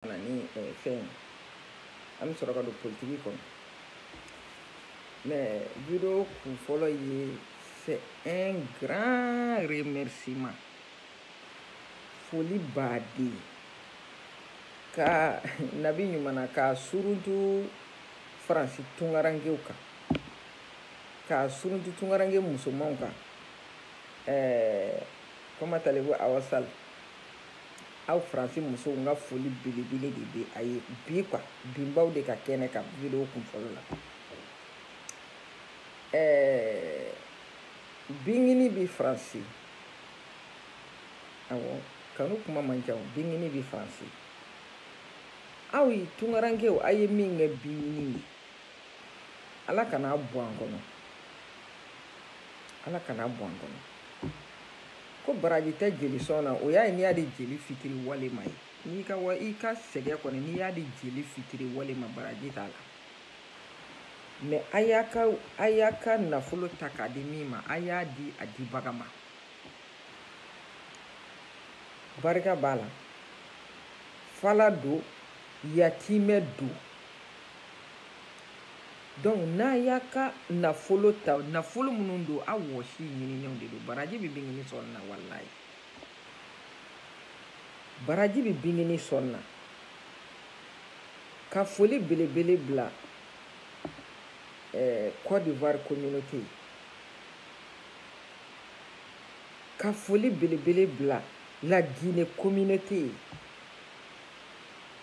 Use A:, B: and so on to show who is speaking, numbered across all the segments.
A: na ni eh, fɛn an bɛ sɔrɔ ka don politiki kɔnɔ mais video kun fɔlɔ ye c'est un grand remerciement foli baden ka nabi ɲumana k'a suruntu faransi tungarankew kan k'a suruntu tungaranke musomanw kan ɛɛ comment allez-vous Awa Sall aw faransi musow n ka foli belebele de bɛ a ye bi quoi binbaw de ka kɛnɛ kan video kun fɔlɔ la ɛɛ bingini bɛ faransi awɔ kanu kuma man ca o bingini bɛ faransi aw ye tungarankew a ye min kɛ bingini ye ala kana a bɔ an kɔnɔ ala kana a bɔ an kɔnɔ. ko baraji tɛ jeli sɔn na o y'a ye n'i y'a di jeli fitiriwale ma ye n'i ka wa i ka sɛgɛn kɔni n'i y'a di jeli fitiriwale ma baraji t'a la mais a y'a ka a y'a ka nafolo ta k'a di min ma a y'a di a dibaga ma barika b'a la fala don yatimɛ don donc n'a y'a ka nafolo ta nafolo minnu don a wɔsi ɲininenw de don baraji bɛ bingini sɔn na walayi baraji bɛ bingini sɔn na ka foli belebele bila eh, Côte d'Ivoire communauté ka foli belebele bila la Guinée communauté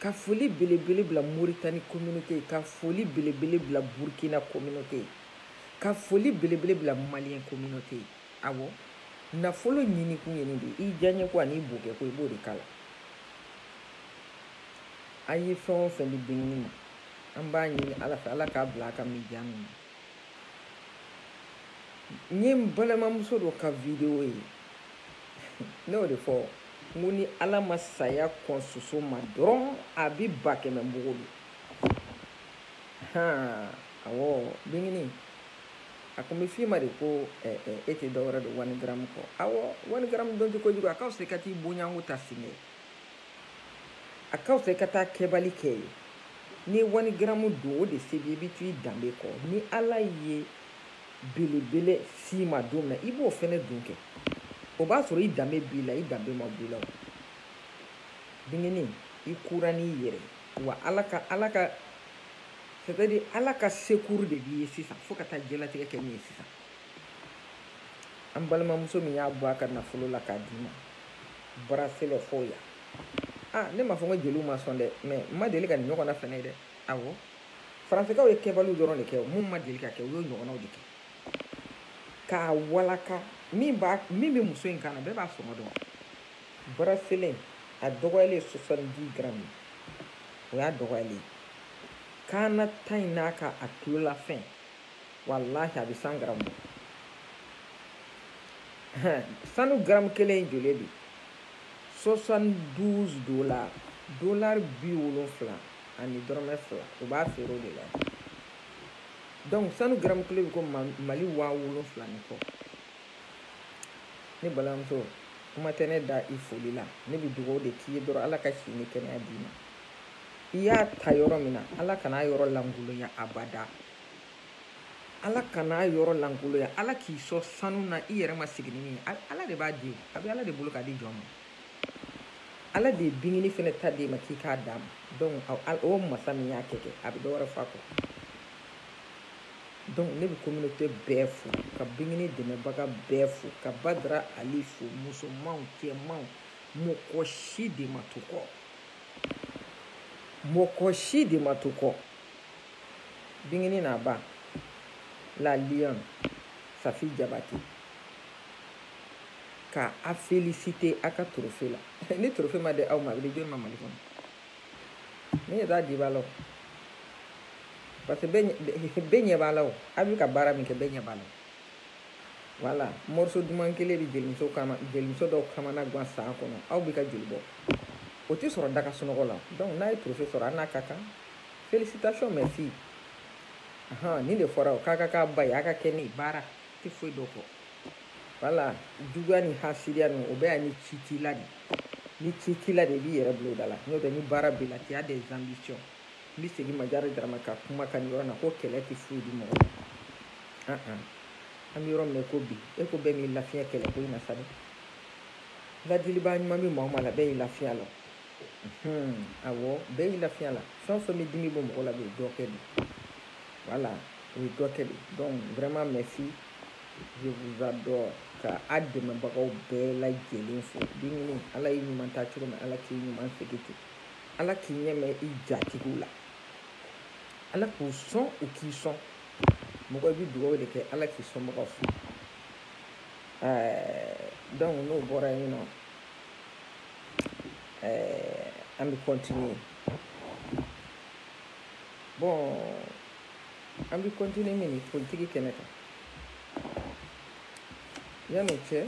A: ka foli belebele bila moritani communauté ye ka foli belebele bila burkina communauté ye ka foli belebele bila maliyɛn communauté ye awɔ nafolo ɲinikun ye nin de i diyaɲɛko ani i bokɛko i b'o de k'a la an ye fɛn o fɛn di bingini ma an b'a ɲini ala fɛ ala k'a bila a ka mijani na n ye n balimamuso dɔ ka video ye ne y'o de fɔ n ko ni ala ma saya kɔn soso ma dɔrɔn a bi ba kɛmɛ bogo bi han awɔ bingini a ko n bɛ f'i ma de ko eh, eh, e tɛ dɔ wɛrɛ don wani garamu kɔ awɔ wani garamu don tɛ kojugu a ka fisa i ka t'i bonyanko ta sini a ka fisa i ka taa kɛbali kɛ ye n'i ye wani garamu don o de se b'i i bɛ to i danbe kɔ ni ala ye belebele s'i ma don min na i b'o fɛnɛ don kɛ o b'a sɔrɔ i danbe b'i la i danbe ma b'i la o bingini i kura n'i yɛrɛ wa ala ka ala ka c'est à dire ala ka secours de b'i ye sisan fo ka taa diɲɛlatigɛ kɛ min ye sisan an balimamuso min y'a bɔ a ka nafolo la k'a d'i ma bracelet fo yan ah ne m'a fɔ ko jeliw ma sɔn dɛ mais n ma deli ka nin ɲɔgɔnna fɛnɛ ye dɛ awɔ faransekaw ye kɛbaliw dɔrɔn de kɛ min ma deli ka kɛ u y'o ɲɔgɔnnaw de kɛ k'a walaka min bɛ muso in kan na bɛɛ b'a sɔngɔ dɔn bracelet a dɔgɔyalen ye soixante-dix garamu o y'a dɔgɔyalen ye kan na ta in n'a ka a tulolafɛn walahi a bɛ cent garamu bɔ sanu garamu kelen in joli bi soixante douze dola dolari bi wolonfila ani dɔrɔmɛ fila u b'a feere o de la donc sanu garamu kelen bɛ ko mali waa wolonfila ni kɔ ne balimamuso kuma tɛ ne da i foli la ne bɛ dugawu de k'i ye dɔrɔn ala ka si ni kɛnɛya d'i ma i y'a ta yɔrɔ min na ala kan'a yɔrɔ lankolonya abada ala kan'a yɔrɔ lankolonya ala k'i sɔn sanu na i yɛrɛ ma sigi ni min ye ala de b'a di a bɛ ala de bolo k'a di jɔn ma ala de ye bingini fɛnɛ ta d'e ma k'i k'a d'a ma donc o masa min y'a kɛ kɛ a bɛ dɔ wɛrɛ f'a kɔ donc ne bɛ communauté bɛɛ fo ka bingini dɛmɛbaga bɛɛ fo ka badara ali fo musomanw cɛmanw mɔgɔ si de ma to kɔ mɔgɔ si de ma to kɔ bingini n'a ba la lionne safi jabatɛ ka a féliciter a ka trophée la ni trophée ma di aw ma a bɛ di jɔni ma mali kɔnɔ ne ɲɛ t'a dibaa la o parce que bɛɛ ɲɛ b'a la o a bɛ ka baara min kɛ bɛɛ ɲɛ b'a la voilà morceau duman kelen bɛ jelimuso dɔw kamana gan san kɔnɔ aw bɛ ka joli bɔ o tɛ sɔrɔ da ka sunɔgɔ la donc n'a ye trophée sɔrɔ a n'a ka kan félicitation ma fille ahan nin de fɔra o k'a ka k'a ba ye a ka kɛ ne ye baara tɛ foyi to kɔ voilà juguya ni hasidiya ninnu o bɛɛ ye ni ci t'i la de ni ci t'i la de i b'i yɛrɛ bila o da la n'o tɛ ni baara b'i la tu as des ambitions n bɛ segin majara darama ka kuma kan nin yɔrɔ na ko kɛlɛ tɛ foyi di mɔgɔ ma an bɛ yɔrɔ min na ko bi e ko bɛɛ m'i lafiya kɛlɛ ko in na sa dɛ ladiliba ɲuman bɛ maa o maa la bɛɛ y'i lafiya la awɔ bɛɛ y'i lafiya la fɛn o fɛn bɛ dimi bɔ mɔgɔ la bɛ dɔ kɛ de voilà o ye dɔ kɛ de donc vraiment merci je vous adore ka a dɛmɛbagaw bɛɛ lajɛlen fo bingini ala y'i ɲuman ta cogo min ala k'i ɲuman segin ten ala k'i ɲɛ mɛɛn i jatigiw la ala k'u sɔn u k'i sɔn mɔgɔ i bɛ dugawu de kɛ ala k'i sɔnbagaw sɔn donc n'o bɔra yen nɔ an bɛ continuer bon an bɛ continuer min ni politiki kɛnɛ kan yan'o cɛ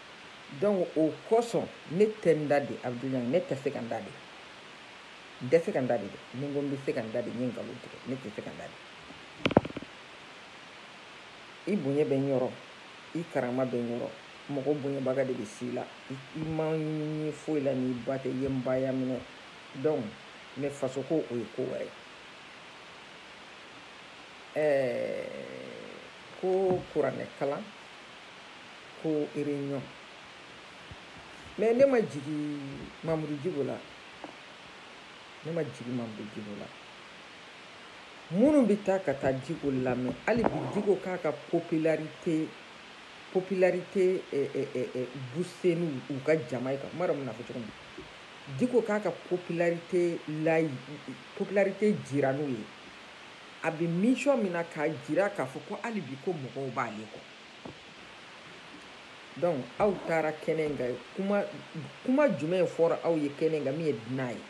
A: donc o kosɔn ne tɛ n da de abudulayi ne tɛ se ka n da de n tɛ se ka n da de dɛ ni n ko n bɛ se ka n da de n ye nkalon tigɛ ne tɛ se ka n da de i bonya bɛ n yɔrɔ i karama bɛ n yɔrɔ mɔgɔ bonyabaga de bɛ s'i la i ma n ye foyi la n'i ba tɛ i ye n ba ya minɛ donc mais faso ko o ye ko wɛrɛ ɛɛ ko kuranɛ kalan ko réunion mais ne ma jigin Mamoudou Diko la ne ma jigin Mamoudou Diko la minnu bɛ taa ka taa Diko lamɛn hali bi Diko k'a ka popularité popularité eh, eh, eh, eh, booster n'u u ka jama ye ka n m'a dɔn n bɛna fɔ cogo min Diko k'a ka popularité layi popularité jira n'u ye a bɛ mission min na k'a jira k'a fɔ ko hali bi ko mɔgɔw b'ale kɔ donc aw taara kɛnɛ in kan kuma kuma jumɛn fɔra aw ye kɛnɛ in kan min ye dunan ye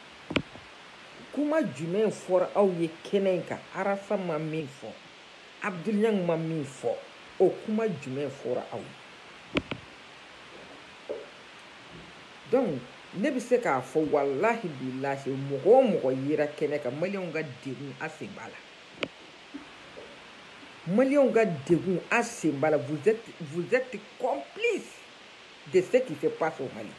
A: kuma jumɛn fɔra aw ye kɛnɛ in kan arafa ma min fɔ abudulayi ma min fɔ o kuma jumɛn fɔra aw ye donc ne bɛ se k'a fɔ walahi bilahi mɔgɔ o mɔgɔ yera kɛnɛ kan maliyɛnw ka degun a sen b'a la maliyɛnw ka degun a sen b'a la vous êtes vous êtes complice de ce qui se passe au Mali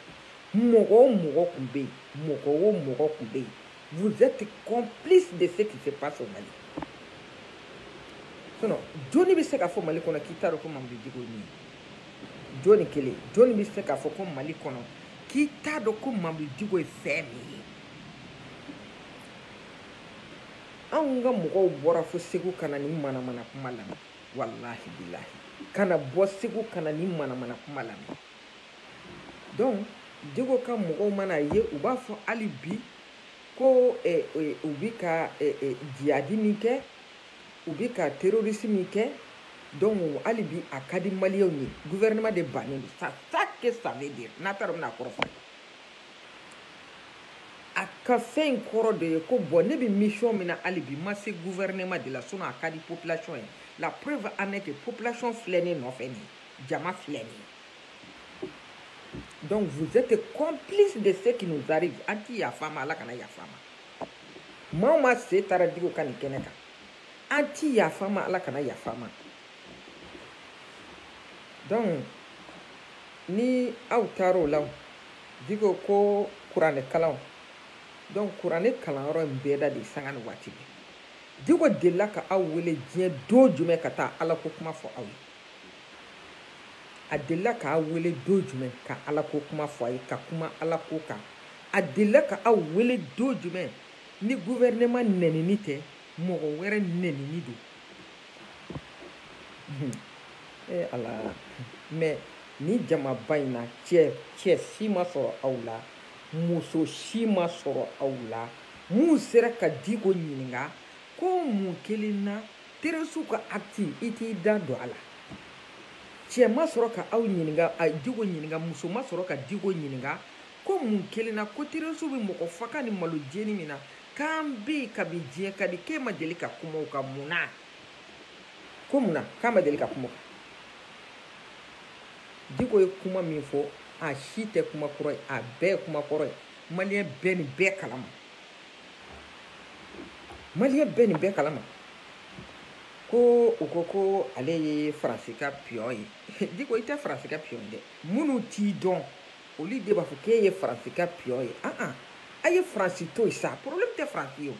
A: mɔgɔ o mɔgɔ tun bɛ yen mɔgɔ o mɔgɔ tun bɛ yen vous êtes complice de ce qui se passe au Mali sinon joni bɛ se k'a fɔ Mali kɔnɔ k'i t'a dɔn ko Mamoudou Diko ye min ye joni kelen joni bɛ se k'a fɔ ko Mali kɔnɔ k'i t'a dɔn ko Mamoudou Diko ye fɛn min ye. anw ka mɔgɔw bɔra fo segu ka na ni manamana kuma lamɛn walahi bilahi kana bɔ segu ka na ni manamana kuma lamɛn donc Diko ka mɔgɔw mana a ye u b'a fɔ hali bi ko eh, eh, u bi ka eh, eh, jihadi min kɛ u bi ka terorisi min kɛ donc hali bi a ka di maliyɛnw ye gouvernement de bannen don ça ça que ça veut dire n'a taara u bɛna kɔrɔfɔ a ka fɛn in kɔrɔ de ye ko bon ne bɛ mission min na hali bi ma se gouvernement de la sinon a ka di population ye la preuve en est que population filɛ ne nɔfɛ nin ye jama filɛ nin ye donc vous êtes complice de ce qui nous arrive an ti yafa ma ala kana yafa ma maa o maa sen taara Diko ka nin kɛnɛ kan an ti yafa ma ala kana yafa ma donc ni aw taar'o la diko ko kuranɛ kalanw donc kuranɛ kalanyɔrɔ in bɛɛ da de sanga ni waati bɛɛ diko delila ka aw wele diɲɛ don jumɛn ka taa ala ko kuma fɔ aw ye a delila ka aw wele don jumɛn ka ala ko kuma fɔ a ye ka kuma ala ko kan a delila ka aw wele don jumɛn ni guvɛrɛnɛman nɛnini tɛ mɔgɔ wɛrɛ nɛnini don ee eh, ala mɛ ni jamaba in na cɛ cɛ si ma sɔrɔ aw la muso si ma sɔrɔ aw la mun sera ka diko ɲininka ko mun kelen na terorisiw ka akti i t'i da don a la cɛ ma sɔrɔ ka aw ɲininka a diko ɲininka muso ma sɔrɔ ka diko ɲininka ko mun kelen na ko terorisiw bɛ mɔgɔ faga ni malo jeni min na k'an bɛ yen kabi diɲɛ ka di k'e ma deli ka kuma o kan mun na ko mun na k'a ma deli ka kuma o kan diko ye kuma min fɔ a si tɛ kuma kura ye a bɛɛ ye kuma kɔrɔ ye maliyɛnw bɛ nin bɛɛ kalama maliyɛnw bɛ nin bɛɛ kalama ko u ko ko ale ye faransi ka piyɔn ye diko i tɛ faransi ka piyɔn dɛ minnu t'i dɔn olu de b'a fɔ k'e ye faransi ka piyɔn ye an an a ye faransi to yen sa problème tɛ faransi ye o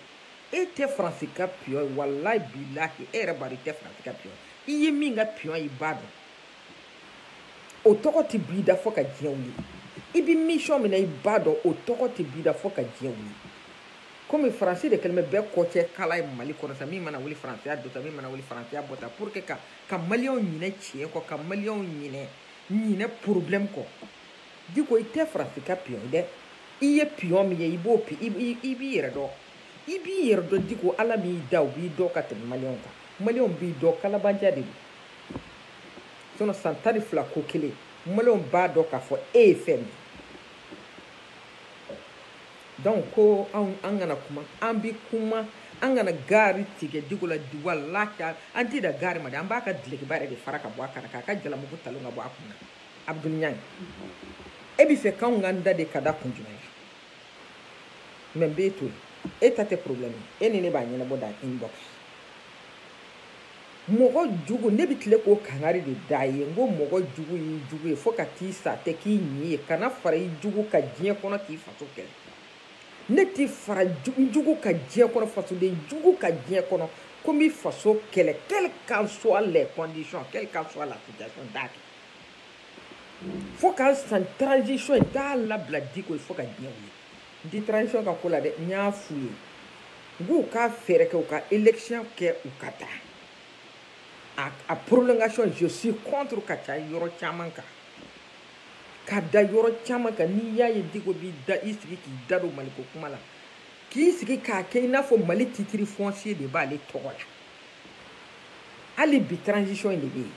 A: e tɛ faransi ka piyɔn ye walayi bilahi e yɛrɛ b'a dɔn i tɛ faransi ka piyɔn ye i ye min ka piyɔn ye i b'a dɔn o tɔgɔ tɛ b'i da fo ka diɲɛ wuli i bɛ mission min na i b'a dɔn o tɔgɔ tɛ b'i da fo ka diɲɛ wuli komi faransi de kɛlen bɛ bɛɛ kɔcɛ kala ye mali kɔnɔ sa min mana wuli faransi y'a don sa min mana wuli faransi y'a bɔ sa pour que ka ka maliyɛnw ɲinɛ tiɲɛ kɔ ka maliyɛnw ɲinɛ ɲinɛ problème kɔ diko i tɛ faransi ka piyɔn dɛ i ye piyɔn min ye i b'o i b'i yɛrɛ dɔn i b'i yɛrɛ dɔn diko ala min y'i da o b'i dɔn ka tɛmɛ maliyɛnw kan maliyɛnw b'i dɔn kalabanciya de don sinɔn san tan ni fila ko kelen maliyɛnw b'a dɔn k'a fɔ e ye fɛn min donc ko anw an kana kuma an bi kuma an kana gaari tigɛ diko la walahi an tɛ dan gaari ma dɛ an b'a ka dulokiba yɛrɛ de fara ka bɔ a kan na k'a ka jalamugu talon ka bɔ a kun na abudul ɲang e b'a fɛ k'anw k'an da de ka da kun jumɛn na mɛ n b'e to yen e ta tɛ problème e ni ne b'a ɲɛnabɔ dans inbox mɔgɔ jugu ne bɛ tile k'o kangari de da a ye n ko mɔgɔ jugu y'i jugu ye fo ka t'i sa tɛ k'i ɲi ye kana fara i jugu kan diɲɛ kɔnɔ k'i faso kɛlɛ ne ti fara jugu kan diɲɛ kɔnɔ fasoden jugu kan diɲɛ kɔnɔ ko n bi faso kɛlɛ quelles qu'en soient les conditions quelle qu'en soit la situation n t'a kɛ fo ka n sa transition n t'a labila diko ye fo ka diɲɛ wuli tɛ transition ka ko la dɛ n y'a f'u ye n k'u ka fɛɛrɛ kɛ u ka élection kɛ u ka taa a, a prolongation je suis contre ka ca yɔrɔ caman kan ka da yɔrɔ caman kan n'i y'a ye diko b'i da i sigi k'i da don maliko kuma la k'i sigi k'a kɛ i n'a fɔ mali titre foncier de b'ale tɔgɔ la hali bi transition in de bɛ yen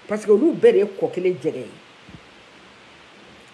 A: parce que olu bɛɛ de ye kɔ kelen jɛgɛ ye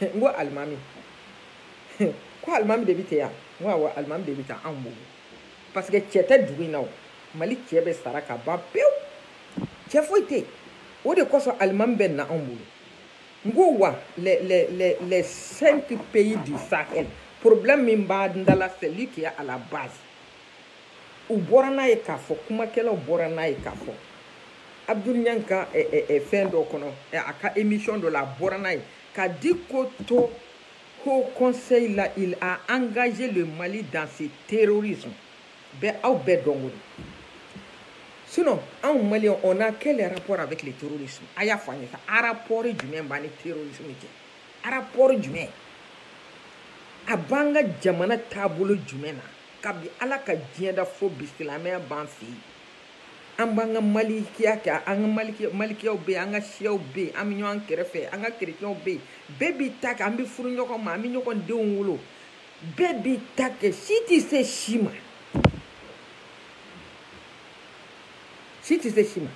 A: n ko alimami ko alimami de bɛ ten yan n ko awɔ alimami de bɛ taa anw bolo parce que cɛ tɛ dugu in na o mali cɛ bɛɛ sara ka ban pewu cɛ foyi tɛ yen o de kosɔn alimami bɛ na anw bolo n ko wa les les les les cinq pays du sahel problème min b'an da la c'est lui qui est à la base u bɔra n'a ye k'a fɔ kumakɛlaw bɔra n'a ye k'a fɔ Abdoul Niang ka fɛn dɔ kɔnɔ a ka émission dɔ la a bɔra n'a ye ka diko to haut conseil la il a engagé le mali dans ce terrorisme bɛɛ aw bɛɛ dɔnko don sinon anw maliens on a quel rapport avec le terrorisme a y'a fɔ an ye sa a rapport jumɛn b'an ni terrorisme cɛ a rapport jumɛn a b'an ka jamana taabolo jumɛn na kabi ala ka diɲɛ da fo bi silamɛya b'an fɛ yen an b'an ka malikiya kɛ an ka malikiyaw bɛ yen an ka siyaw bɛ yen an bɛ ɲɔgɔn kɛrɛfɛ an ka kerecɛnw bɛ yen bɛɛ b'i ta kɛ an bɛ furu ɲɔgɔn ma an bɛ ɲɔgɔn denw wolo bɛɛ b'i ta kɛ si tɛ se si ma si tɛ se si ma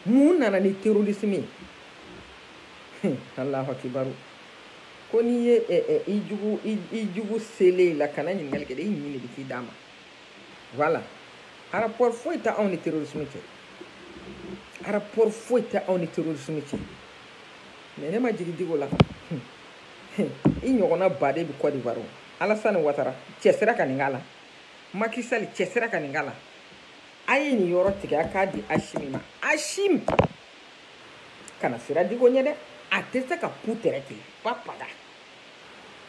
A: mun nana ni terrorisme ye alahu akibaru ko n'i ye i jugu selen ye i la kana ɲininkali kɛ dɛ i ɲin de bɛ k'i d'a ma voilà rapport foyi tɛ anw ni terrorisme cɛ rapport foyi tɛ anw ni terrorisme cɛ mais ne ma jigin diko la i ɲɔgɔnna baden bɛ Côte d'Ivoire Alassane Ouattara cɛsira ka nin k'a la Macky Sall cɛsira ka nin k'a la a ye nin yɔrɔ tigɛ a k'a di Assimi ma Assimi kana siran diko ɲɛ dɛ a tɛ se ka pu tɛrɛ k'i la pa paga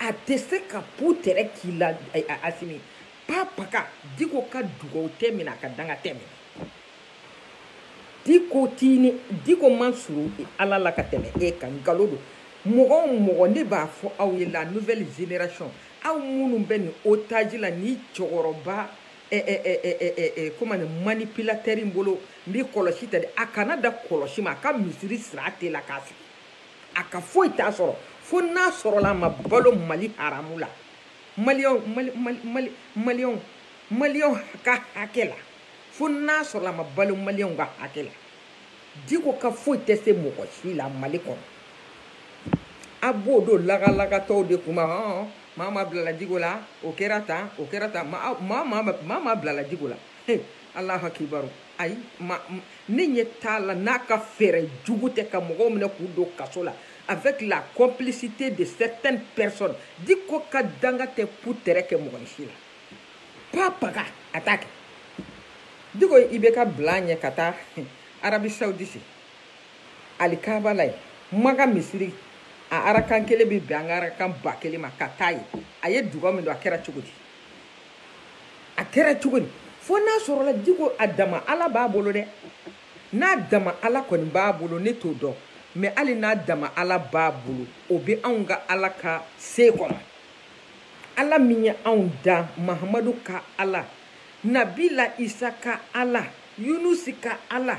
A: a tɛ se ka pu tɛrɛ k'i la asimi pa paga diko ka dugawu tɛ minɛ a ka danga tɛ minɛ diko tini diko man surun ala la ka tɛmɛ e kan nkalon don mɔgɔ o mɔgɔ ne b'a fɔ aw ye la nouvelle génération aw minnu bɛ nin otage la ni cɛkɔrɔba comment dire manipulateur in bolo n bɛ kɔlɔsi ta de a kana da kɔlɔsi ma a ka misiri sira tɛ la k'a sigi a ka foyi t'a sɔrɔ fo n'a sɔrɔla a ma balo mali haramu la maliyɛnw mali mali mali maliyɛnw maliyɛnw ka hakɛ la fo n'a sɔrɔla a ma balo maliyɛnw ka hakɛ la diko ka foyi tɛ se mɔgɔ si la mali kɔnɔ a b'o dɔn lagalagatɔw de kuma hɔn maa ma bilala diko la o kɛra tan o kɛra tan maa maa maa ma- maa ma bilala diko la he alahu akibaru ayi ma m- ne ɲɛ t'a la n'a ka fɛɛrɛ jugu tɛ ka mɔgɔw minɛ k'u don kaso la avec la complicité de certaines personnes diko ka danga tɛ putɛrɛ kɛ mɔgɔ si la pa paga a t'a kɛ diko i bɛ ka bila a ɲɛ ka taa arabie saoudite alikaaba la ye maka misiri a arakan kelen bɛ bɛn an ka arakan ba kelen ma ka taa ye a ye dugawu min don a kɛra cogo di a kɛra cogo di fo n'a sɔrɔla diko a dama ala b'a bolo dɛ n'a dama ala kɔni b'a bolo ne t'o dɔn mais hali n'a dama ala b'a bolo o bɛ anw ka ala ka se kɔnɔ ala min ye anw da mahamadu ka ala nabila isa ka ala yunusi ka ala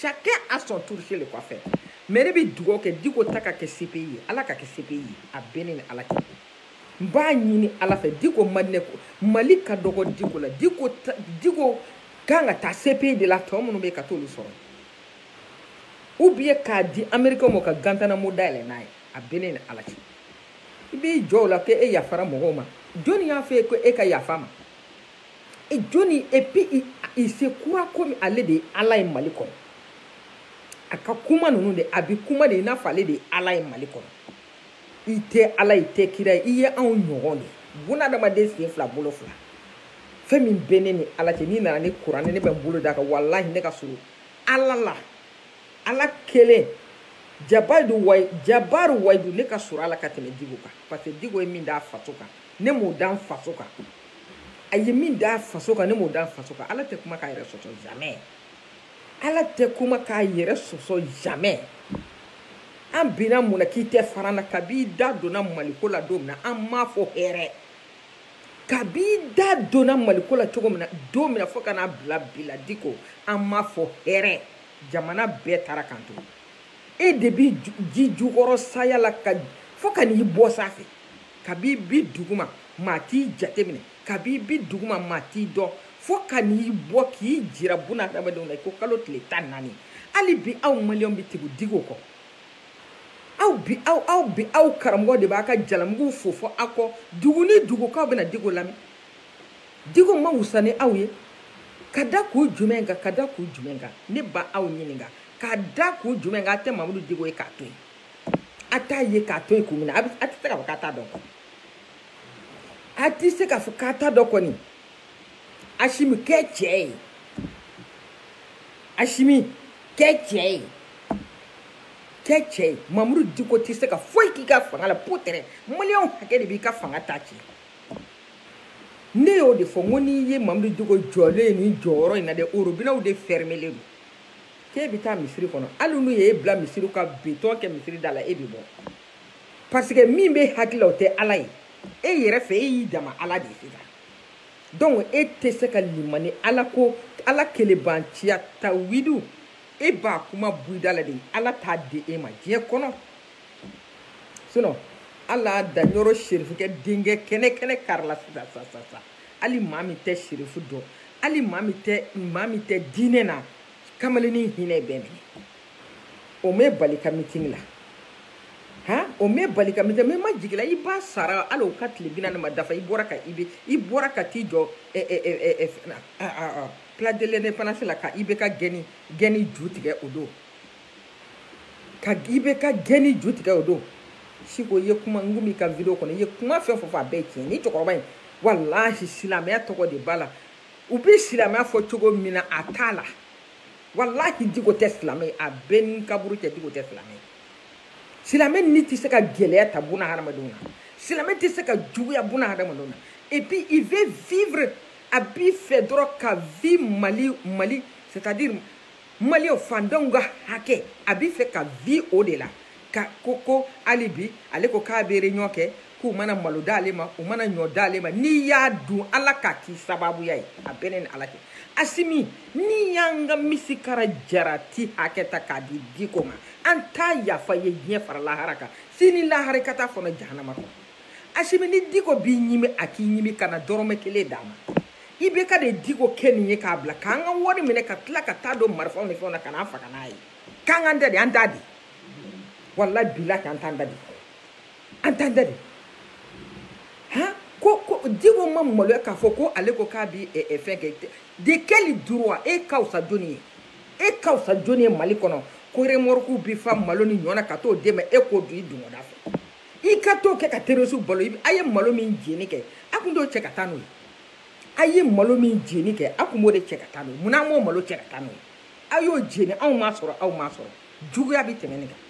A: chacun a son tour chez le coiffeur mais ne bɛ dugawu kɛ diko ta ka kɛ cpi ye ala ka kɛ cpi ye a bɛ ne ni ala cɛ n b'a ɲini ala fɛ diko mali ne ko mali ka dɔgɔ diko la diko diko kan ka taa cpi de la tɔ minnu bɛ ka t'olu sɔrɔ ou bien k'a di américain ma ka guantanamo dayɛlɛ n'a ye a bɛ ne ni ala cɛ i b'i jɔ o la ko e yafara mɔgɔw ma jɔnni y'a fɔ e ko e ka yafa ma e jɔnni et puis il, il se croit comme ale de ye ala ye mali kɔnɔ a ka kuma ninnu de a bɛ kuma de i n'a fɔ ale de ye ala ye mali kɔnɔ i tɛ ala i tɛ kira ye i ye anw ɲɔgɔn de bunadamaden sen fila bolo fila fɛn min bɛ ne ni ala cɛ n'i nana ni kuranɛ ne bɛ n bolo d'a kan walahi ne ka surun ala la ala kelen jabari wayi jabari wayidu ne ka surun ala ka tɛmɛ diko kan parce que diko ye min d'a faso kan ne m'o da n faso kan a ye min d'a faso kan ne m'o d'a faso kan ala tɛ kuma k'a yɛrɛ sɔsɔ jamais ala tɛ kuma k'a yɛrɛ sɔsɔ jamais an binna mun na k'i tɛ fara an na kabi i da donna maliko la don min na an m'a fɔ hɛrɛ kabi i da donna maliko la cogo min na don min na fo ka n'a bila bi la diko an m'a fɔ hɛrɛ jamana bɛɛ taara k'an to e de bɛ jijukɔrɔsaya la ka fo ka n'i bɔ sanfɛ kabi bi duguma maa t'i jateminɛ kabi bi duguma maa t'i dɔn fo ka n'i bɔ k'i jira buna adamadenw na i ko kalo tile tan naani hali bi aw maliyɛnw bɛ tugu diko kɔ aw bi aw aw bi aw karamɔgɔ de b'a ka jalamuguw fofo aw kɔ dugu ni dugu k'aw bɛna diko lamɛn diko ma wusa ni aw ye ka da kun jumɛn kan ka da kun jumɛn kan ne b'aw ɲininka ka da kun jumɛn kan a tɛ mamudu diko ye k'a to yen a t'a ye k'a to yen kun min na a bɛ a tɛ se k'a fɔ k'a t'a dɔn a tɛ se k'a fɔ k'a t'a dɔn kɔni asimi kɛ cɛ ye asimi kɛ cɛ ye kɛ cɛ ye mamudu diko tɛ se ka foyi k'i ka fanga la peut-être maliyɛnw hakɛ de b'i ka fanga ta cɛ ne y'o de fɔ n ko n'i ye mamudu diko jɔlen ye nin jɔyɔrɔ in na dɛ orobinɛw de fɛrimelen don k'e bɛ taa misiri kɔnɔ hali n'u ye e bila misiri ka betɔn kɛ misiri da la e bɛ bɔ parce que min bɛ hakili la o tɛ ala ye e yɛrɛ fɛ e y'i dama ala de ye sisan donc e tɛ se ka limaniya ala ko ala kelebanciya tawidu e b'a kuma bɔ i da la de ala t'a di e ma diɲɛ kɔnɔ sinon ala da ɲɔrɔ serifukɛ denkɛ kɛnɛ kɛnɛ karila sisan sisan sisan hali maa min tɛ serifu dɔn hali maa min tɛ maa min tɛ diinɛ na kamalennin hinɛ b'e minɛ o m'e bali ka mitin la han o m'e bali ka mitin mɛ ma jigila i ba sara hali o ka tile bi naani ma dafa i bɔra ka i bɛ i bɔra ka t'i jɔ ɛ ɛ ɛ ɛ ɛ fɛn na a a a place de l'indépendance la ka ibeka gɛnni gɛnni jutigɛ o don ka ibeka gɛnni jutigɛ o don siko i ye kuma n komi i ka video kɔnɔ i ye kuma fɛn fɛn fɔ a bɛɛ ye tiɲɛ nin cɛkɔrɔba in walahi silamɛya tɔgɔ de b'a la u bɛ silamɛya fɔ cogo min na a t'a la walahi diko tɛ silamɛ ye a bɛ n ni kaburu cɛ diko tɛ silamɛ ye silamɛ ni tɛ se ka gɛlɛya ta buna hadamadenw na silamɛ tɛ se ka juguya buna hadamadenw na et puis il veut vivre a b'i fɛ dɔrɔn ka vie mali mali c'est à dire mali o faantanw ka hakɛ a b'i fɛ ka vi o de la ka ko ko hali bi ale ko k'a bɛ réunion kɛ k'u mana malo d'ale ma u mana ɲɔ d'ale ma n'i y'a dun ala k'a k'i sababuya ye a bɛ ne ni ala cɛ asimi n'i y'an ka misikara jarati hakɛ ta k'a di diko ma an t'a yafa i ye diɲɛ fara lahara kan sini lahara i ka t'a fɔɔnɔ jahanama kɔnɔ asimi ni diko b'i ɲimi a k'i ɲimi kana dɔrɔmɛ kelen d'a ma ibk de diko kɛ nin ye k'a bila k'an ka wari minɛ ka tila ka taa don marifaw ni fɛnw na ka n'an faga n'a ye k'an k'an da de an t'a de walahi bilahi an t'an da de an t'an da de han ko ko diko ma maloya k'a fɔ ko ale ko k'a bi eh, eh, fɛn kɛ de quel droit e ka fisa jɔni ye e ka fisa jɔni ye mali kɔnɔ ko remɔrɔku bi fa malo ni ɲɔgɔn na ka t'o d'e ma e k'o don i dungɔda fɛ i ka t'o kɛ ka terorisiw balo a ye malo min jeni kɛ a kun t'o cɛ ka taa n'o ye a ye malo min jeni kɛ a kun b'o de cɛ ka taa n'o ye munna a m'o malo cɛ ka taa n'o ye a y'o jeni anw m'a sɔrɔ aw m'a sɔrɔ juguya bɛ tɛmɛ nin kan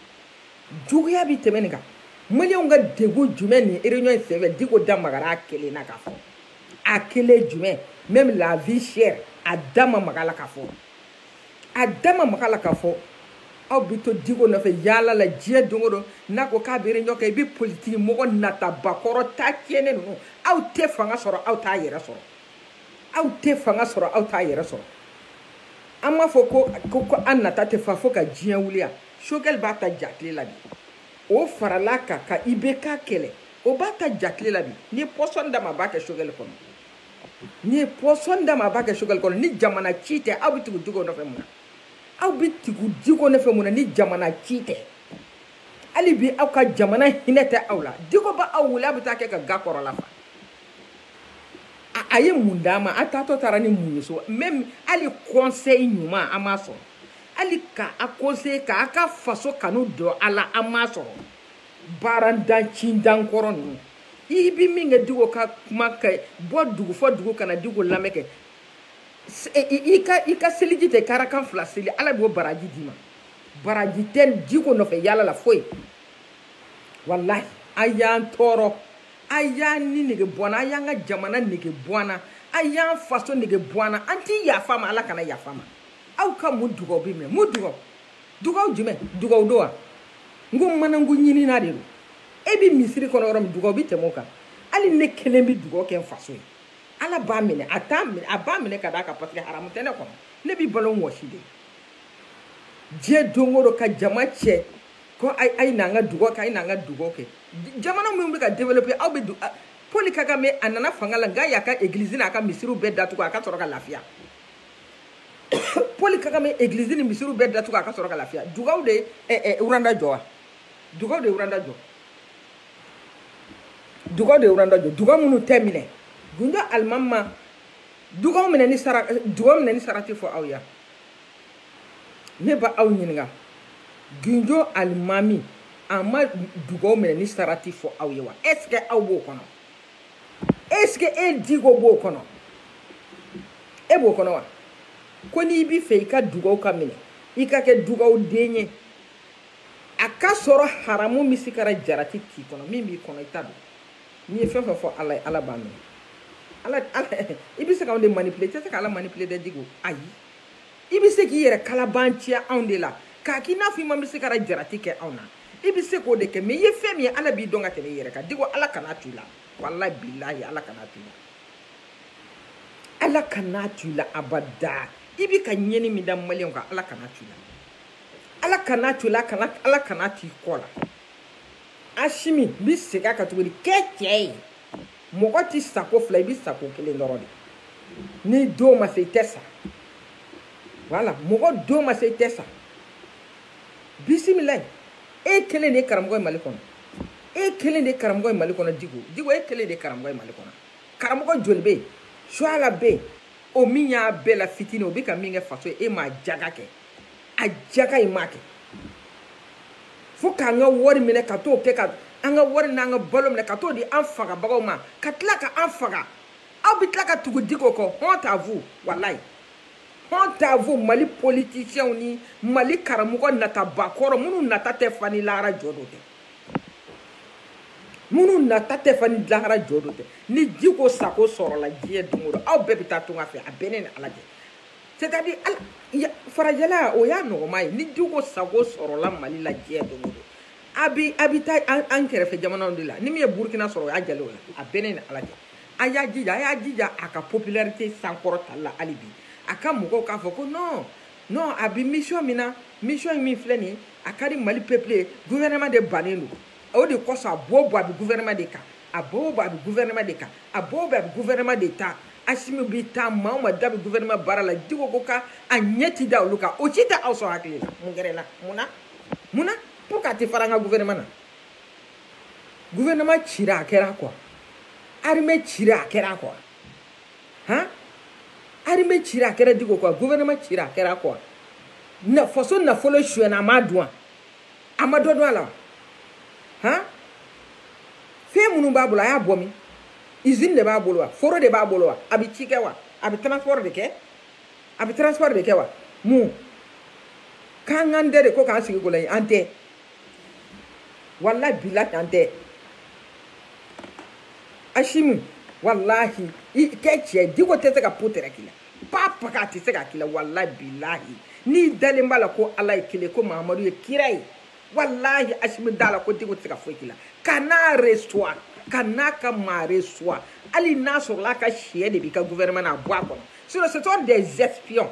A: juguya bɛ tɛmɛ nin kan maliyɛnw ka degun jumɛn nin réunion in senfɛ diko da magara a kelen na k'a fɔ a kelen jumɛn même la vie chère a da ma maga la k'a fɔ a da ma maga la k'a fɔ aw bɛ to diko nɔfɛ yaala la diɲɛ don o don n'a ko k'a bɛ réunion kɛ bi politiki mɔgɔ natabakɔrɔ ta tiɲɛnen ninnu aw tɛ fanga sɔrɔ aw t'a yɛrɛ sɔrɔ aw tɛ fanga sɔrɔ aw t'a yɛrɛ sɔrɔ an b'a fɔ ko ko ko an nata tɛ fa fo ka diɲɛ wuli yan sogɛli b'a ta jakile la bi o farala a kan ka ibk kɛlɛ o b'a ta jakile la bi n'i ye pɔsɔni d'a ma a b'a kɛ sogɛli kɔnɔ n'i ye pɔsɔni d'a ma a b'a kɛ sogɛli kɔnɔ ni jamana ci tɛ aw bɛ tugu diko nɔfɛ mun na aw bɛ tugu diko nɔfɛ mun na ni jamana ci tɛ hali bi aw ka jamana hinɛ tɛ aw la diko bɛ aw wele aw bɛ taa kɛ ka ga kɔrɔla fa a ye mun d'a ma a taatɔ taara ni mun ye so même hali kɔnsɛyi ɲuman an m'a sɔrɔ hali ka a kɔnsɛyi k'a ka faso kanu don a la an m'a sɔrɔ baarandan cindan kɔrɔ ninnu i bi min kɛ diko ka kuma kɛ bɔ dugu fo dugu ka na diko lamɛn kɛ i ka i ka seliji ta ka rakan fila seli ala b'o baraji d'i ma baraji tɛ diko nɔfɛ yala la foyi walahi a y'an tɔɔrɔ a y'an ni nege bɔ an na a y'an ka jamana nege bɔ an na a y'an faso nege bɔ an na an ti yafa a ma ala kana yafa a ma aw ka mun dugaw bɛ mɛn mun dugaw dugaw jumɛn dugaw don wa n ko manankun ɲinina de don e bɛ misiri kɔnɔ yɔrɔ min dugaw bɛ tɛmɛ o kan hali ne kelen bɛ dugaw kɛ n faso ye ala b'a minɛ a t'a minɛ a b'a minɛ ka d'a kan parce que haramu tɛ ne kɔnɔ ne bi balo n wɔsi de diɲɛ don o don ka jama cɛ ko a ye n'an ka dugaw kɛ a ye n'an ka dugaw kɛ jamana minnu bɛ ka développer aw bɛ Paul Kagame a nana fanga la nka y'a ka église n'a ka misiriw bɛɛ datugu a ka sɔrɔ ka lafiya poli kagame eglizi ni misiriw bɛɛ datugu a ka sɔrɔ ka lafiya dugaw de ye uranda jɔ wa dugaw de ye uranda jɔ dugaw de ye uranda jɔ dugaw minnu tɛ minɛ gundo alimami ma dugaw minɛni sara dugaw minɛni sarati fɔ aw ye wa ne b'aw ɲininka gundo alimami a ma dugaw minɛni sarati fɔ aw ye wa est ce que aw b'o kɔnɔ est-ce que e diko b'o kɔnɔ e b'o kɔnɔ wa ko n'i b'i fɛ i ka dugaw ka minɛ i ka kɛ dugaw den ye a ka sɔrɔ haramu misikara jarati t'i kɔnɔ min b'i kɔnɔ i ta don n'i ye fɛn fɛn fɔ ala ye ala b'a minɛ ala ala i bɛ se ka anw de manipule i tɛ se ka ala manipule dɛ diko ayi i bɛ se k'i yɛrɛ kalabanciya anw de la k'a k'i n'a fɔ i ma misikara jarati kɛ anw na i bɛ se k'o de kɛ mais i ye fɛn min ye ala b'i dɔn ka tɛmɛ i yɛrɛ kan diko ala kana to i la walayi bilahi ala kana to i la ala kana to i la abada i bɛ ka ɲɛni min da maliyɛnw kan ala kana to i la ala kana to i la kana ala kana t'i kɔ la asimi n bɛ segin a kan tuguni kɛ cɛ ye mɔgɔ tɛ sa ko fila i bɛ sa ko kelen dɔrɔn de ni don ma se i tɛ sa voilà mɔgɔ don ma se i tɛ sa bisimilayi e kelen de ye karamɔgɔ ye mali kɔnɔ e kelen de ye karamɔgɔ ye mali kɔnɔ diko diko e kelen de ye karamɔgɔ ye mali kɔnɔ karamɔgɔ joli bɛ yen suala bɛ yen o min y'a bɛɛ la fitini o bɛ ka min kɛ faso ye e m'a jaka kɛ a jaka e m'a kɛ fo k'an ka wari minɛ ka t'o kɛ ka an ka wari n'an ka balo minɛ ka t'o di an fagabagaw ma ka tila ka an faga aw bɛ tila ka tugu diko kɔ honte à vous walayi honte à vous mali politisiɲɛw ni mali karamɔgɔ nataba kɔrɔ minnu nata tɛ fa ni lahara jɔ don tɛ minnu nata tɛ fa ni lahara jɔ don tɛ ni diko sago sɔrɔla diɲɛ don o don aw bɛɛ bɛ taa tunga fɛ a bɛ ne ni ala cɛ c'est-à-dire hali farajɛla o y'a nɔgɔma ye ni diko sago sɔrɔla mali la diɲɛ don o don a bi a bi taa an kɛrɛfɛ jamanaw de la ni min ye burukina sɔrɔ o y'a diyalen o la a bɛ ne ni ala cɛ a y'a jija a y'a jija a ka popularité sankɔrɔtali la hali bi a ka mɔgɔw k'a fɔ ko non non a bi mission min na mission min filɛ nin ye a ka di mali peuple ye gouvernement de bannen don o de kosɔn a bɔ o bɔ a bɛ gouvernement de kan a bɔ o bɔ a bɛ gouvernement de kan a bɔ o bɔ a bɛ gouvernement de ta asimi bi taa maa o maa da bɛ gouvernement baara la diko ko ka a ɲɛ ti da olu kan o si tɛ aw sɔn hakili la mun kɛra i la mun na mun na pourquoi a tɛ fara an ka gouvernement na gouvernement cira a kɛra quoi armée cira a kɛra quoi han armée cira a kɛra diko quoi gouvernement cira a kɛra quoi na faso nafolo sonyɛna a m'a dun wa. a ma dɔ dun a la wa han fɛn minnu b'a bolo a y'a bɔ min usine de b'a bolo wa foro de b'a bolo wa a bɛ ci kɛ wa a bɛ transport de kɛ a bɛ transport de kɛ wa mun k'an k'an da de ko k'an sigi k'o lajɛ an tɛ walayi bilahi an tɛ asimi walahi i kɛ cɛ diko tɛ se ka po tɛrɛ k'i la papa k'a tɛ se ka k'i la walahi bilahi n'i dalen b'a la ko ala ye kelen ko mahamadu ye kira ye walahi asimi da la ko diko tɛ se ka foyi k'i la kan'a reçoit kan'a ka maa reçoit hali n'a sɔrɔla a ka syɛ de b'i ka gouvernement na a bɔ a kɔnɔ sinon ce sont des espions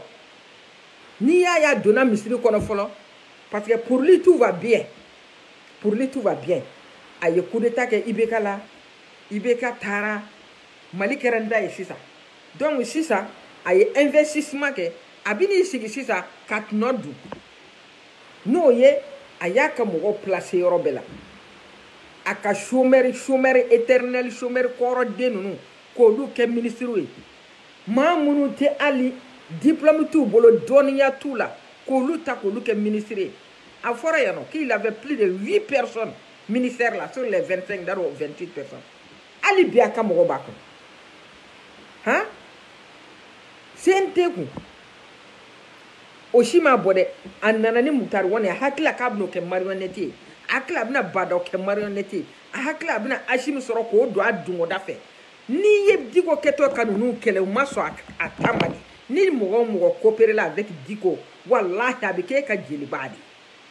A: n'i y'a ye a donna misiri kɔnɔ fɔlɔ parce que pour lui tout va bien pour lui tout va bien a ye coup d'état kɛ ibk la ibk taara mali kɛra n ta ye sisan donc sisan a ye investissement kɛ a bɛn'i sigi sisan ka tɔnɔ dun n'o ye a y'a ka mɔgɔw placé yɔrɔ bɛɛ la a ka chômeur chômeur éternel chômeur kɔrɔden ninnu k'olu kɛ minisiriw ye maa minnu tɛ hali diplôme t'u bolo dɔnniya t'u la k'olu ta k'olu kɛ minisiri ye a fɔra yan nɔ qu'il avait plus de huit personnes ministère la sur les vingt cinq dar'o vingt huit personnes hali bi a ka mɔgɔ b'a kɔnɔ han cnt kɔnɔ o si ma bɔ dɛ a nana ni mutari wane a hakili la k'a bɛna o kɛ mariyɔnɛti ye a hakili a bɛna ba ndaw kɛ mariyɔnɛti ye a hakili a bɛna asimi sɔrɔ k'o don a dungɔda fɛ n'i ye diko kɛtɔ ka ninnu kɛlɛ u ma sɔn a ta ma de ni mɔgɔ o mɔgɔ koperela avec diko walahi a bɛ k'e ka jeliba de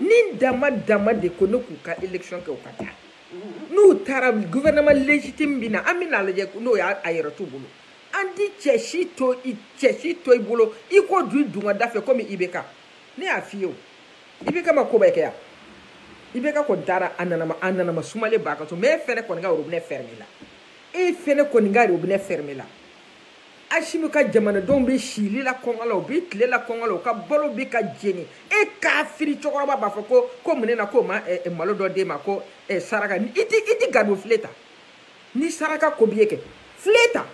A: ni dama dama de ko ne k'u ka élection kɛ u ka taa n'u taara gouvernement légitime bɛ na an bɛn'a lajɛ n'o y'a a yɛrɛ t'u bolo an ti caisse to i caisse to i bolo i k'o dun i dungɔda fɛ komi ibk ne y'a f'i ye o ibk ma ko bɛɛ kɛ yan ibk kɔni taara a nana a nana ma sumalen b'a ka so mais e fɛnɛ kɔni ka robinet fermé la e fɛnɛ kɔni ka robinet fermé la asimi ka jamanadenw bɛ sili la kɔngɔ la u bɛ tile la kɔngɔ la u ka balo bɛ ka jeni e kafiri cɛkɔrɔba b'a fɔ ko ko mun na k'o ma eh, eh, malo dɔ d'e ma ko eh, saraka i tɛ i tɛ garibu filen ta ni saraka ko b'i ye kɛ filen ta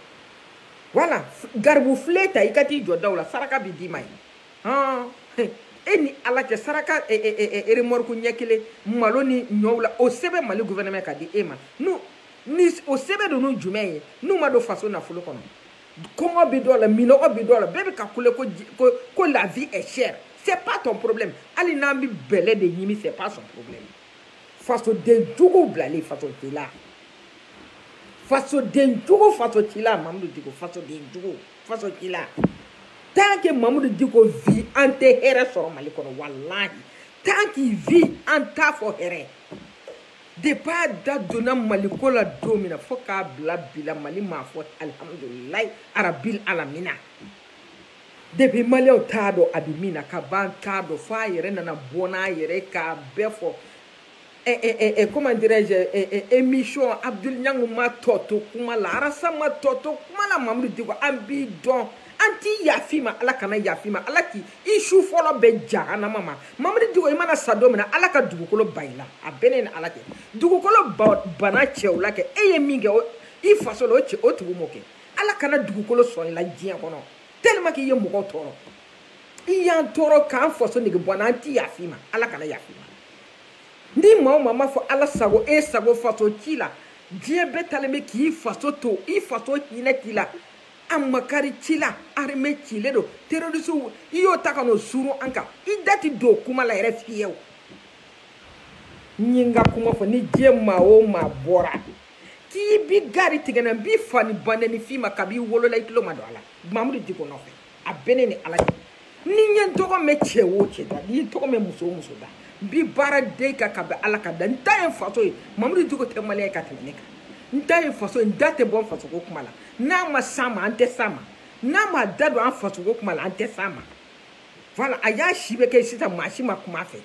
A: wala garibu filen ta i ka t'i jɔ daw la saraka bɛ d'i ma yen hɔn e ni ala cɛ saraka remorque ɲɛ kelen malo ni ɲɔw la o sɛbɛn mali gouvernement ka di e ma n'u ni o sɛbɛn ninnu jumɛn ye n'u ma don faso nafolo kɔnɔ kɔngɔ bɛ dɔw la minɔgɔ bɛ dɔw la bɛɛ bɛ ka kule ko ko ko la vie est chère c'est pas ton problème hali n'an bɛ bɛlɛ de ɲimi c'est pas son problème fasoden jugu bilalen faso t'i la fasoden jugu faso t'i la mamudu diko fasoden jugu faso t'i la tant que mamudu diko vit an tɛ hɛrɛ sɔrɔ mali kɔnɔ walahi tant qu'il vit an t'a fɔ hɛrɛ depuis a da donna maliko la don min na fo k'a bila bi la mali m'a fɔ alihamudulilayi arabil alamina depuis maliyɛnw t'a dɔn a bɛ min na ka ban t'a dɔn fo a yɛrɛ nana bɔ n'a yɛrɛ k'a bɛɛ fɔ eh, eh, eh, eh, comment dirais-je, eh, eh, eh, émission Abdul Nyang ma tɔ to kuma la, Arasa ma tɔ to kuma la, Mamudu Diko, an b'i dɔn, an ti yaf'i ma, Ala kana yaf'i ma, Ala k'i su fɔlɔ bɛn jahanama ma. mamudu diko i mana sa don min na ala ka dugukolo ban i la a bɛ ne ni ala cɛ dugukolo banna cɛw la kɛ e ye min kɛ i faso la o cɛw tun m'o kɛ ala kana dugukolo sɔn i la diɲɛ kɔnɔ tellement k'i ye mɔgɔw tɔɔrɔ i y'an tɔɔrɔ k'an faso nege bɔ an na an ti yaf'i ma ala kana yaf'i ma ni maa o maa m'a fɔ ala sago e sago faso cila diɲɛ bɛɛ taalen bɛ k'i faso to i faso hinɛ t'i la a makari t'i la arme cilen don terorisiw i y'o ta ka n'o suuru an kan i da ti don kuma la yɛrɛ fiyewu n ye n ka kuma fɔ ni diɲɛ maa o maa bɔra k'i b'i gaari tigɛ n na n b'i fa n'i ba nɛni fɛn ma kab'i wolola i tulo ma don a la mamudu diko nɔfɛ a bɛ ne ni ala cɛ ni n ye n tɔgɔ mɛn cɛ o cɛ da ni n ye n tɔgɔ mɛn muso o muso da n b'i baara de kan ka bɛn ala ka da n ta ye faso ye mamudu diko tɛ maliyɛn ye ka tɛmɛ ne kan n ta ye faso ye n da tɛ bɔ n fasoko kuma la n'a ma s'an ma an tɛ s'a ma n'a m'a da don an fasoko kuma la an tɛ s'a ma voilà a y'a si bɛɛ kɛ sisan maa si ma kuma a fɛ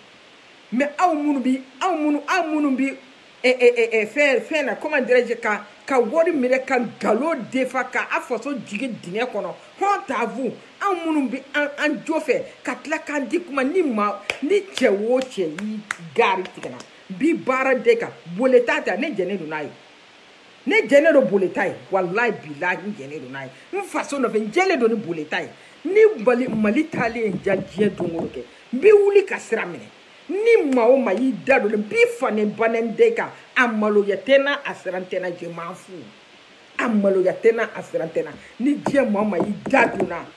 A: mais aw minnu bi aw minnu aw minnu bi fɛn fɛn na comment dirais-je ka ka wari minɛ ka nkalon defa ka a faso jigin dingɛ kɔnɔ honte à vous anw minnu bɛ an an jo fɛ ka tila k'an di kuma ni ma ni cɛ o cɛ y'i gaari tigɛ n na n b'i baara de kan boleta ta ne jɛnen don n'a ye ne jɛnen don boleta ye walayi bilahi n jɛnen don n'a ye n faso nɔfɛ n jɛlen don ni boleta ye ni mali mali taalen n ja diɲɛ don o don kɛ n bɛ wuli ka sira minɛ ni maa o maa y'i da don n b'i fa n'i ba nɛni de kan a maloya tɛ n na a siran tɛ n na je m'en fous a maloya tɛ n na a siran tɛ n na ni diɲɛ maa o maa y'i da don n na n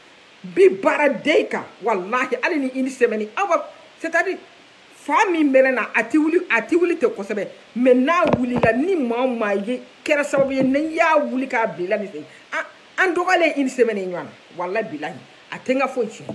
A: b'i baara de kan walahi hali ni une semaine aw ka c'est à dire fa min bɛ ne na a ti wuli a ti wuli ten kosɛbɛ mais n'a wulila ni maa o maa ye kɛra sababu ye ne y'a wuli k'a bila nin fɛ an dɔgɔyalen une semaine ɲɔgɔn na walahi bilahi a tɛ n ka foyi tiɲɛ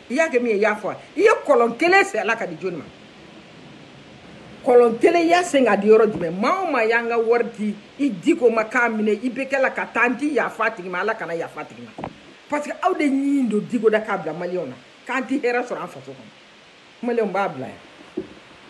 A: i y'a kɛ min ye i y'a fɔ a i ye kɔlɔn kelen sen a la k'a di jɔni ma kɔlɔn kelen i y'a sen k'a di yɔrɔ jumɛn maa o maa y'an ka wari di i diko ma k'a minɛ i bɛ kɛ la ka taa n ti yafa a tigi ma ala kana yafa a tigi ma parce que aw de ye ɲin don diko da k'a bila maliyɛnw na k'an ti hɛrɛ sɔrɔ an faso kɔnɔ maliyɛnw b'a bila yan